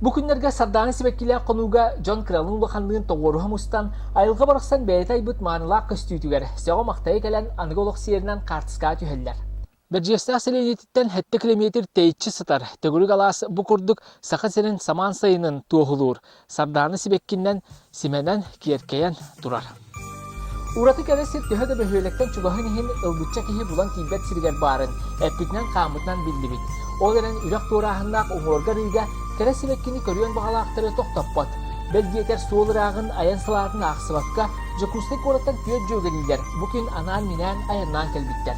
Бу күннэргэ Сардаана сибэккилээх хонууга дьон кыралыын улаханныын тоҕуоруһа мустан, айылҕа барахсан бэйэтэ айбыт маанылаах көстүүтүгэр сөҕө-махтайа кэлэн аныгы олох сиэринэн хаартыскаҕа түһэллэр. Бэрдьиэстээх сэлиэнньэтиттэн сэттэ килэмиэтир тэйиччи сытар төгүрүк алаас бу курдук Саха сирин самаан сайынын туоһулуур Сардаана сибэккиннэн симэнэн, киэркэйэн турар. Ураты кэрэ сир төһө да бөһүөлэктэн чугаһын иһин ылбычча киһи булан тиийбэт сиригэр баарын эппитинэн-хааммытынан биллибит. Ол эрэн үрэх туорааһыннаах уҥуорга-арыыга кэрэ сибэккини көрүөн баҕалаахтары тохтоппот. Бэл диэтэр суол ырааҕын айан салаатын аахсыбакка Дьокуускай куораттан түөрт дьүөгэлиилэр бу күн анаан-минээн айаннаан кэлбиттэр.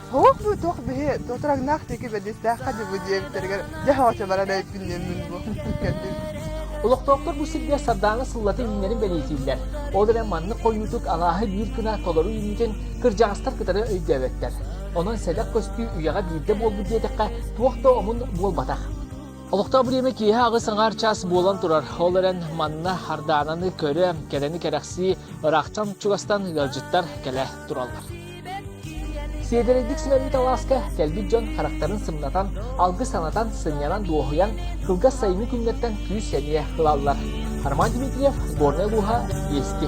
Сорох дуу, туох биһи тотураҥнаах диэки бэдистээххэ дьыбы диэбиттэригэр дьэ хоочалара эрэйпинниэммин дуо кэлбит. Олохтоохтор бу сиргэ сардааҥы сыллата иһиннэрин бэлиэтииллэр. Ол эрэн маннык хойуутук алааһы биир гына толору үүнүүтүн кырдьаҕастар кытары өйдөөбөттөр. Онон сэдэх көстүү үйэҕэ биирдэ буолбут диэтэххэ, туох да омун буолбатах. Олохтоох бириэмэ киэһэ аҕыс аҥаар чаас буолан турар. Ол эрэн манна хардаананы көрө, кэрэни кэрэхсии, ыраахтан чугастан ыалдьыттар кэлэ тураллар. Сиэдэрэйдик сүмэрбит алааска кэлбит дьон харахтарын сымнатан, алгыс санатан, сынньанан дуоһуйан, кылгас сайыҥҥы күҥҥэттэн күүс-сэниэ ылаллар. Арман Дмитриев, сборная Луга, Ести.